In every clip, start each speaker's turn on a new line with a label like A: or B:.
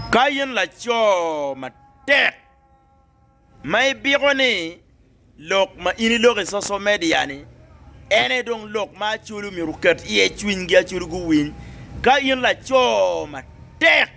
A: Ka in laco matek ma ibiko ni lok ma in iloko i social media ni en aye dong lok ma aculu myero oket iye cwinygi aculu guwiny, ka in laco matek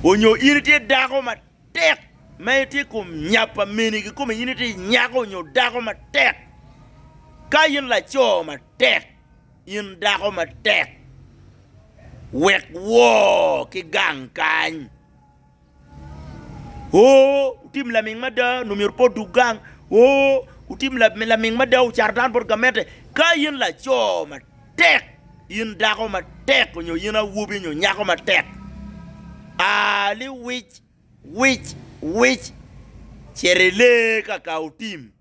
A: onyo in itye dako matek ma itye i kom nya pa mini kikome in itye nyako nyo dako matek ka in laco matek. In dako matek, wek woo ki gang kany. Oo, wutim laming mada, onongo myero pe odug gang. Oo, wutim laming mada, ocato dano bot gamente. Ka in laco matek, in dako matek, onyo in awobi onyo nyako matek, aa ni wic, wic, wic, cito ilee ka ka otim.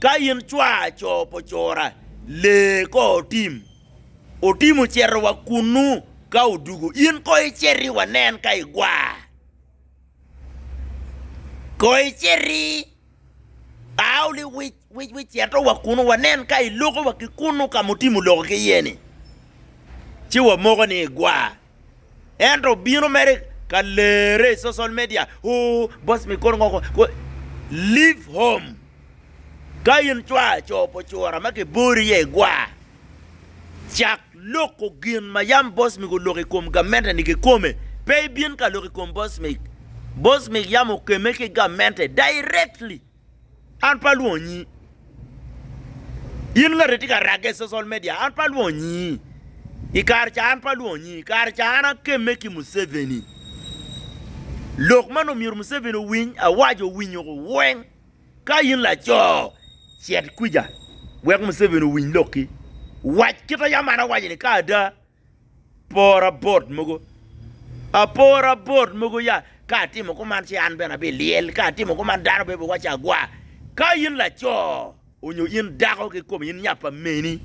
A: Ka in cwaa co pa ocora, lee ko otim. Otim oceto wa kunnu ka odugu, in ko iceti wa nen ka igwar. Ko iceti ao li wic wic wic ceto wa kunnu wa nen ka iloko wa ki kunnu ka ma otim oloko ki iye ni, ci wa moko ni igwar. Ento bino mere ka lere i social media ooh boss me kor ngo ko leave home ka in cwar co pa ocura ma ki bori iye i gwar cak loko gin ma yam boss me oloko i kom gamente ni ki kome pe i bin ka loko i kom boss me, boss me yam okeme ki gamente directly. An pe alwongo nyi. In ngati tye ka ragge i social media an pe alwongo nyi. I kare ca an pe alwongo nyi. I kare ca an akemme ki Museveni. Lok man omyero Museveni owiny, awaco owinyo weng. Ka in laco, cit kwica wek Museveni owiny lokki. Wac kit a yam an awaco-ni ka ada. Apora bot mogo, apora bot mogo ya, ka atimo kuman ci an bene abiliel, ka atimo kuman dano bene biwaco agwa. Ka in laco onyo in dako kikome in nya pa meni,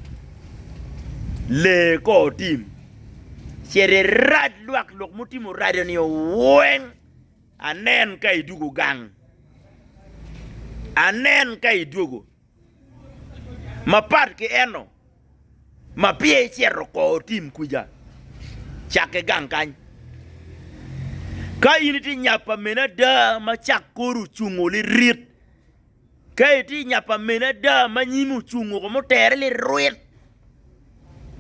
A: lee kor tim, cit irac lwak lok mutimo raco-ni weng, anen ka idwogo gang, anen ka idwogo. Mapat ki eno, ma pire icito kor otim kwica, cakke gang kany. Ka in itye nya pa mene ada ma cak kori ocungo lirit, ka itye nya pa mene ada ma nyimi ocungo kong mutere lirwit,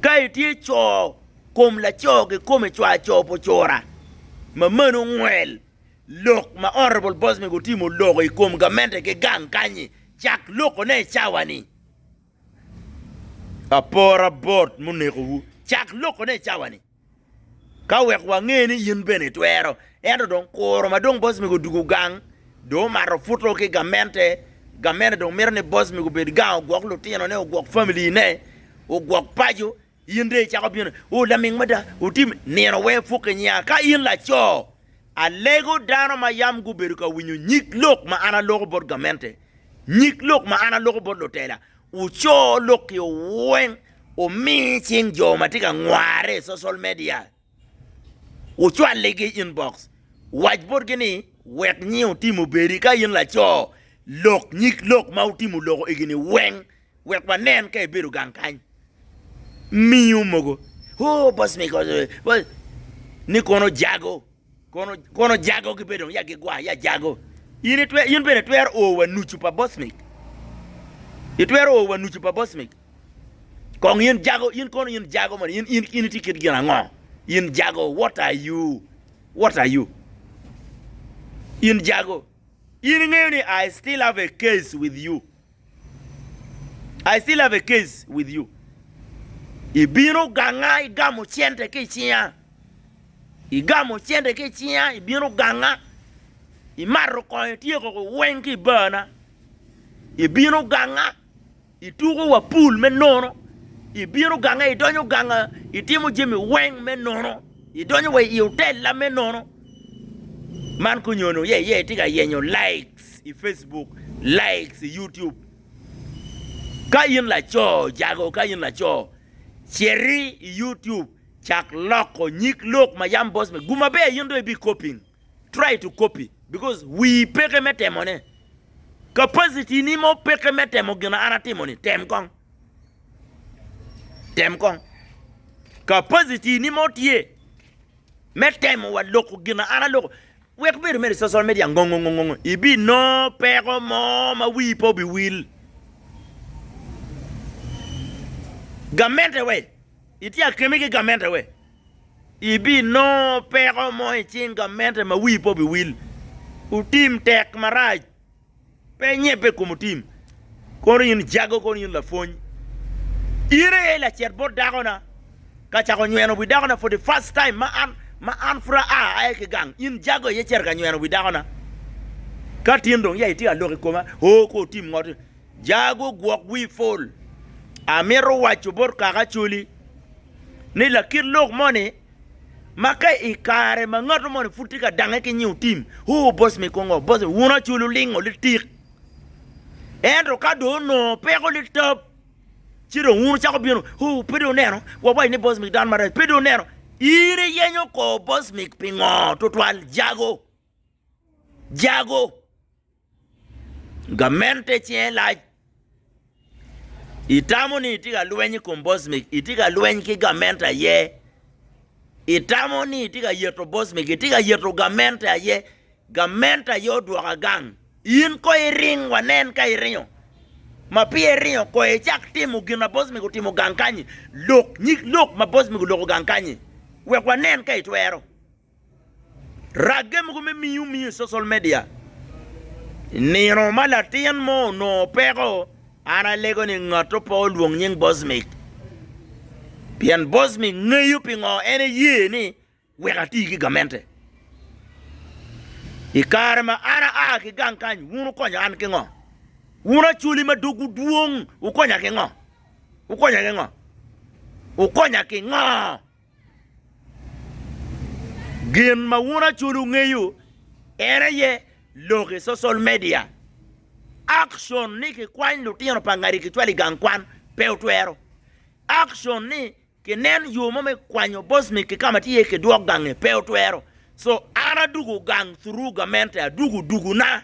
A: ka itye co kom laco kikome cwar co pa ocura, mamani ongwel. Lok ma Honourable Bosbeng otimo loko i kom gamente ki gang kanyi cak lokone i cawa ni. Apora bot muneko wu cak lokone i cawa ni ka wek wange ni in bene itwero ento dong kuro ma dong Bosbeng odugu gang dong omato puto ki gamente, gamente dong mito ni Bosbeng obed gang ogwok lutino ne, ogwok family ne, ogwok paco In dong icako bino, O laming mada, otim nino wek ipuk i nyinga. Ka in laco, alego dano ma yam gubedo ka winyo nyig lok ma an aloko bot gamente, nyig lok ma an aloko bot lutela, wuco lok-ki weng, wumi cing jo ma tye ka ngwarre i social media. Wucwalligi i inbox, wac botgi ni, Wek nying otim obedi ka in laco lok nyig lok ma wutimo loko egini weng wek wanen ka ibedo gang kany. Miyo mogo, Oh, boss me kono boss ni kono jago, kono kono jago gibedo dong ya gigwa ya jago. In itwe in bene itwero o wa nucu pa boss me. Itwero o wa nucu pa boss me. Kong in jago, in kono in jago man, in in in itye kit gin ango? In jago, what are you? What are you? In jago. In ingeyo ni I still have a case with you. I still have a case with you. Ibino ganga, igamo cente ki i cinga. Igamo cente ki i cinga, ibino ganga. Imato kongo ityeko weng ki i barna. Ibino ganga. Ituko wa pul me nono, ibino ganga, idonyo ganga, itimo jami weng me nono, idonyo wa i otella me nono. Man konyono ye ye itye ka yenyo likes i Facebook, likes i YouTube. Ka in laco jago, ka in laco citi i YouTube cak loko nyig lok ma yam boss me gu maber in dong ibi copying. Try to copy because wii peke me temone. Capacity ni mo peke me temo gina an atimo ni, tem kong. Tem kong. Capacity ni mo tye me temo wa loko gina an aloko. Wek bedo mere social media ngongongongong ibi no peko mo ma wii pe obi wil. Gamente we, itye akemi ki gamente we. Ibinongo peko mo i cing gamente ma wii pe obiwil. Otim tek marac. Pe nyebbe i kom otim. Kono in jago kono in lapwony. In aye lacet bot dako na ka cako nyweno wi dako na for the first time ma an ma an pud aa aye ki gang in jago aye cito ka nyweno wi dako na. Ka tin dong ya itye ka lok i koma oo kor otim ngoti. Jago gwok wii pol. Amito waco bot kaka Acholi ni lakit lok moni ma ka i kare ma ngato moni pud tye ka dange ki nyiu tim, ooh boss me kongo, boss me, wun Acholi wulingo litik. Ento ka dong onongo peko litap ci dong wun wucako bino, ooh pe dong oneno, wawaco ni boss me dano marac, pe dong oneno. In iyenyo kor boss me pingo tutwal Jago? Jago? Gamente cinge lac. Itamo ni itye ka lweny i kom bocmik, itye ka lweny ki gamente aye. Itamo ni itye ka yeto bocmik, itye ka yeto gamente aye. Gamente aye odwoko agang. In kono iring wanen ka iringo. Ma peya iringo kono icak timo gin ma bocmik otimo gang kany-nyi. Lok nyig lok ma bocmik oloko gang kany-nyi wek wanen ka itwero. Ragge mogo me miyo miyo i social media, I nino ma latin mo onongo peko, an alego ni ngatto pe olwong nying Bosmic pien Bosmic ngeyo pingo en eye ni wek ati ki gamente. I kare ma an aa ki gang kany wun wukonyo an ki ngo? Wun Acholi ma dogwu dwong wukonya ki ngo? Wukonya ki ngo? Gin ma wun aculu wungeyo en aye lok i social media. Action ni kikwany lutino pa ngadi kicwalo i gang kwan pe wutwero. Action ni kinen yo mo me kwanyo Bosnic ki ka ma tye iye kidwok gange pe wutwero. So an adwogo gang through gamente, adwogo dwogona.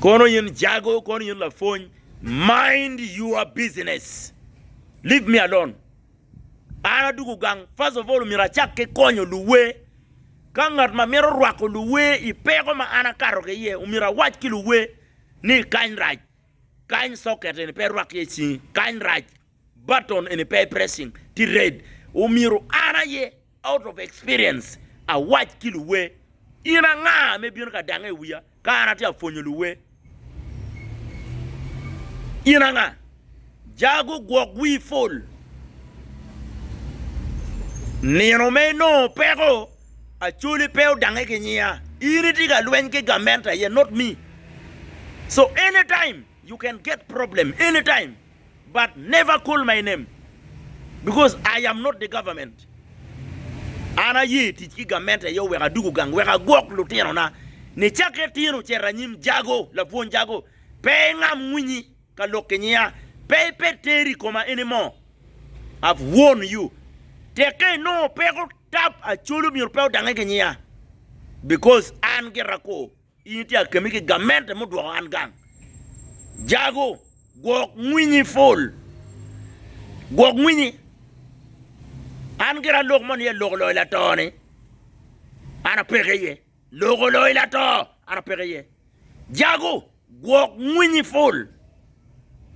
A: Kono in jago, kono in lapwony, mind your business, leave me alone. An adwogo gang, first of all myero acak ki konyo luwe. Ka ngat ma mito rwako luwe i peko ma an akato ki iye, myero awac ki luwe ni kany rac, kany socket eni pe irwak iye cingi, kany rac. Button eni pe pressing tye red omyero an aye out of experience awac ki luwer in anga me bino ka dange i wiya ka an atye ka pwonyo luwer in anga jago gwok wii pol nino me inongo peko acholi pe odange ki nyiya in itye ka lweny ki gamente aye not me so anytime you can get problem anytime. but never call my name because I am not the government an aye tic ki gamente aye oweko adugu gang wek agwok lutino na ni cake tino cito anyim jago lapwony jago pe ingam winyi ka lok ki nyiya pe iped teri i koma anymore I've warn you teke inongo peko tap acholi myero pe odange ki nyiya because an gira kor. In itye akemi ki gamente mudwoko an gang. Jago, gwok ngwinyi pol. Gwok ngwinyi. An gira lok mo niye lok oloyo lato ni. An apeke iye. Lok oloyo lato. An apeke iye. Jago, gwok ngwinyi pol.